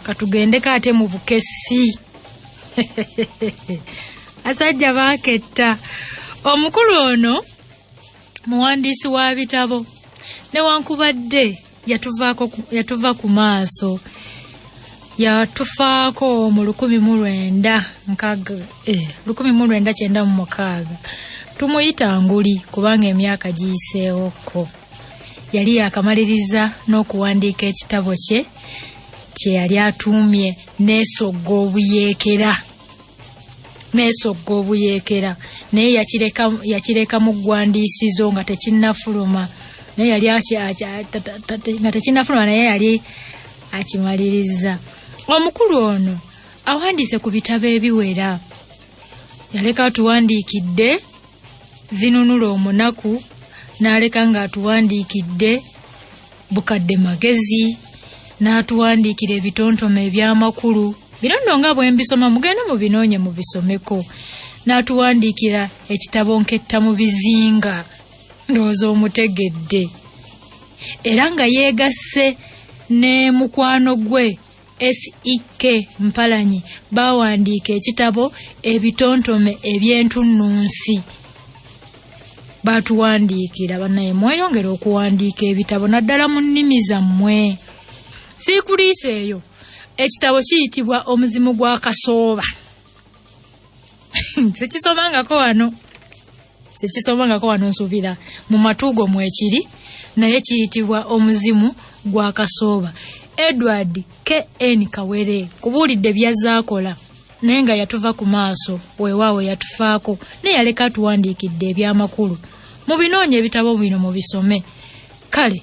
katugendeko ate mu bukesi asajja baaketta omukulu ono muwandiisi wa bitabo newankubadde yatuva ku maaso yatufaako mu lukumi mu lwenda nkaga eh, lukumi mu lwenda kyenda mu mukaaga tumuyita nguli kubanga emyaka giyiseewokko yali yakamaliriza n'okuwandiika ekitabo kye kye yali atuumye neesogga obuyeekera neesogga obuyeekera naye yakireka mu ggwandiisizo nga tekinnafuluma naye yali nga tekinnafuluma naye yali akimaliriza omukulu ono awandiise ku bitabo ebiwera yaleka tuwandiikidde zinunula omunaku n'aleka ng'atuwandiikidde bukadde magezi n'atuwandiikira ebitontome eby'amakulu bino nno nga bwe mbisoma mugende mu binoonye mu bisomeko n'atuwandiikira ekitabo nketta mu bizinga ndowooza omutegedde era nga yeegasse ne mukwano gwe SEK Mpalanyi baawandiika ekitabo ebitontome eby'entunnunsi baatuwandiikira banaye mweyongera okuwandiika ebitabo naddala mu nnimi zammwe siikuliisa eyo ekitabo kiyitibwa omuzimu gwa kasooba tekisomangako wano tekisomangako wano nsubira mu matuugo mwekiri naye kiyitibwa omuzimu gwa kasooba edward kn kawere kubuulidde byazaakola naye nga yatuva ku maaso weewaawo yatufaako naye yaleka atuwandiikidde ebyamakulu mu binoonya ebitabo bino mu bisome kale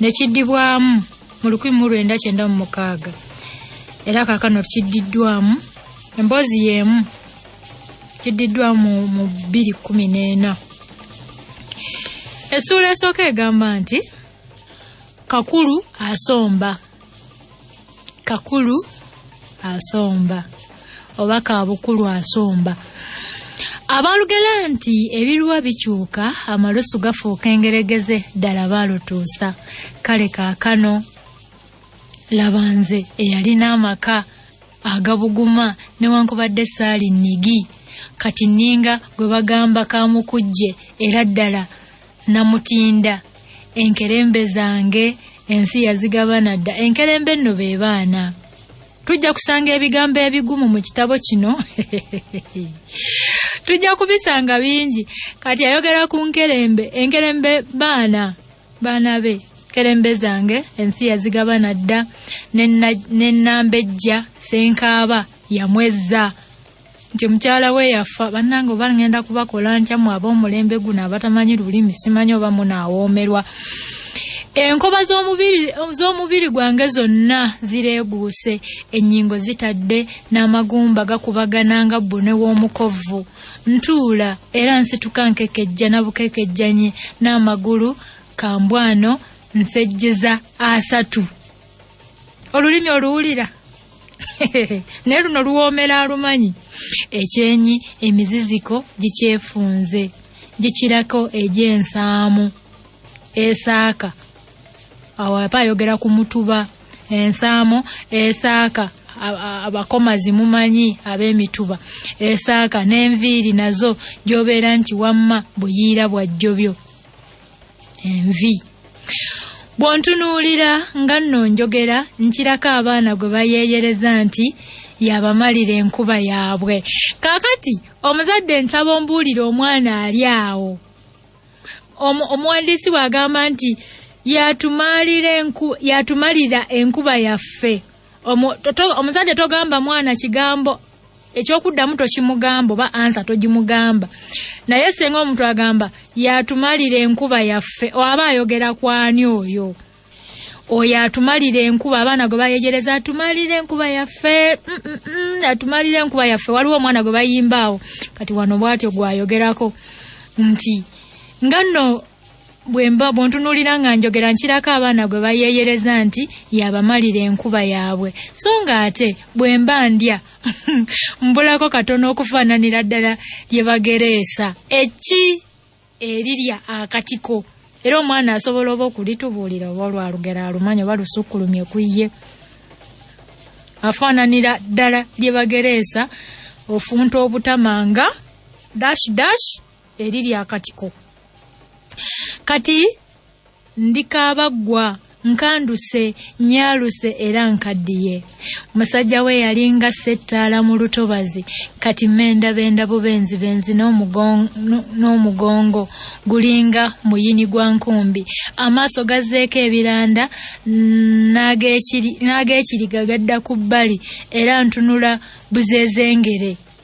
ne kiddibwamu mu lukumi mu lwenda kyenda mu mukaaga era kaakano kiddiddwamu emboozi y'emu kiddiddwamu mu bbiri kkumi n'ena essuula esooka egamba nti kakulu asomba kakulu asomba oba kabukulu asomba abaalugera nti ebiruwa bikyuka amalusu gafuuka engeregeze ddala baalutuusa kale kaakano laba nze eyalina amaka agabuguma newankubadde saali nigi kati nninga gwe bagamba kamukujje era ddala namutinda enkerembe zange ensi yazigabana dda enkerembe nno be baana tujja kusanga ebigambo ebigumu mu kitabo kino tujja kubisanga bingi kati ayogera ku nkerembe enkerembe baana baana be kerembe zange ensi yazigabana dda ne nnambejja senkaaba yamwezza nti mukyala we yafa bannange oba ngenda kubakola ntya mwe ab'omulembe guno abatamanyi lulimi simanyi oba munaawoomerwa enkoba z'omubiri gwange zonna zireeguuse ennyingo zitadde n'amagumba gakubagana nga bbune w'omukovu ntuula era nsituka nkekejja na bukekejjanye n'amagulu kambwano nsejjeza asatu olulimi oluwulira naye luno luwoomera alumanyi ekyenyi emiziziko gikyefunze gikirako egy'ensaamu esaaka awo aba ayogera ku mutuba ensaamu esaaka abakomazi mumanyi ab'emituba esaaka n'enviiri nazo gy'obeera nti wamma buyiira bwajjobyo envi bw'ontunuulira nga nno njogera nkirako abaana gwe bayeeyereza nti yabamalira enkuba yaabwe kaakati omuzadde nsaba ombuulire omwana ali awo omuwandiisi bw'agamba nti yatumalira enkuba yaffe omuzadde togamba mwana kigambo ekyokuddamu tokimugamba oba ansa togimugamba naye senga omuntu agamba yatumalira enkuba yaffe aba ayogera kwani oyo oyo atumalira enkuba abaana gwe bayegereza atumalira enkuba yaffe mm, mm, mm, atumalira enkuba yaffe waliwo omwana gwe bayimbaawo kati wano bwatyo gwayogerako nti nga nno bwemba bwontunulira nga njogera nkirako abaana gwe bayeeyereza nti yabamalira enkuba yaabwe so nga ate bwemba ndya mbulako katono okufaananira ddala lye bagereesa eki erirya akatiko era omwana asobola oba okulitubuulira oba olwalugero alumanya oba lusukkulumye ku ye afaananira ddala lye bagereesa ofunta obutama nga dash dash eriri akatiko kati ndikaabaggwa nkanduse nyaluse era nkaddiye musajja we yalinga settaala mu lutobazi kati mendabenda bubenzi benzi n'omugongo gulinga muyini gwa nkumbi amaaso gazzeeko ebiranda n'ag'ekiriga gadda ku bbali era ntunula buzezengere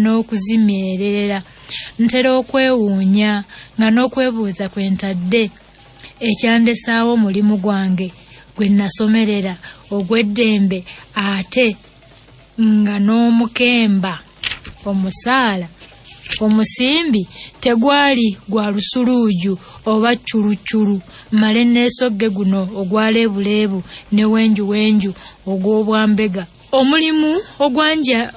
n'okuzimyerera ntera okwewuunya nga n'okwebuuza kwe ntadde ekyandesaawo omulimu gwange gwe nasomerera ogw'eddembe ate nga n'omukemba omusaala omusimbi tegwali gwa lusuluuju oba cculucculu male neesogge guno ogwa leebuleebu ne wenjuwenju ogw'obwambega omulimu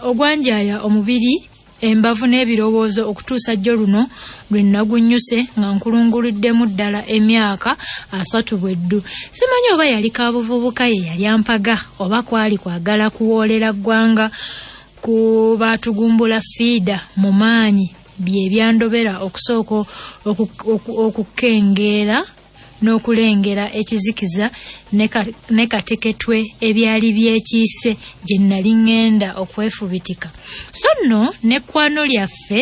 ogwanjaya omubiri embavu n'ebirowoozo okutuusa jjo luno lwe nagunnyuse nga nkulunguluddemu ddala emyaka asatu bwe ddu simanyi oba yali kabuvubuka ye yali ampaga oba kwali kwagala kuwoolera ggwanga ku baatugumbula fiida mu maanyi bye byandobera okusooka okukengeera n'okulengera ekizikiza ne kateketwe ebyali byekiise gye nnali ŋŋenda okwefubitika so nno n'ekkwano lyaffe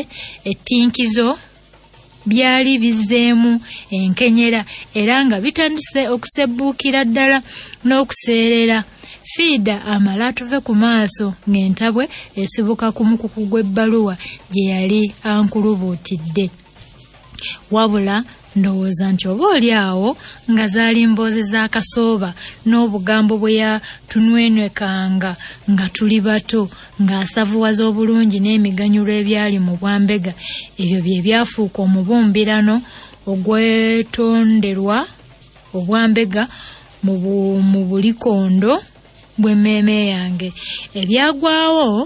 ettinkizo byali bizeemu enkenyera era nga bitandise okusebbuukira ddala n'okuseerera fiida amala atuve ku maaso ng'entabwe esibuka ku mukuku gw'ebbaluwa gye yali ankulubuutidde wabula ndowooza nti oba oli awo nga zaali mboozi za kasooba n'obugambo bwe yatunwenwekanga nga tuli bato ng'asavuwaza obulungi n'emiganyulo ebyali mu bwambega ebyo bye byafuuka omubumbirano ogwetonderwa obwambega mu bulikondo bw'emmeeme yange ebyagwawo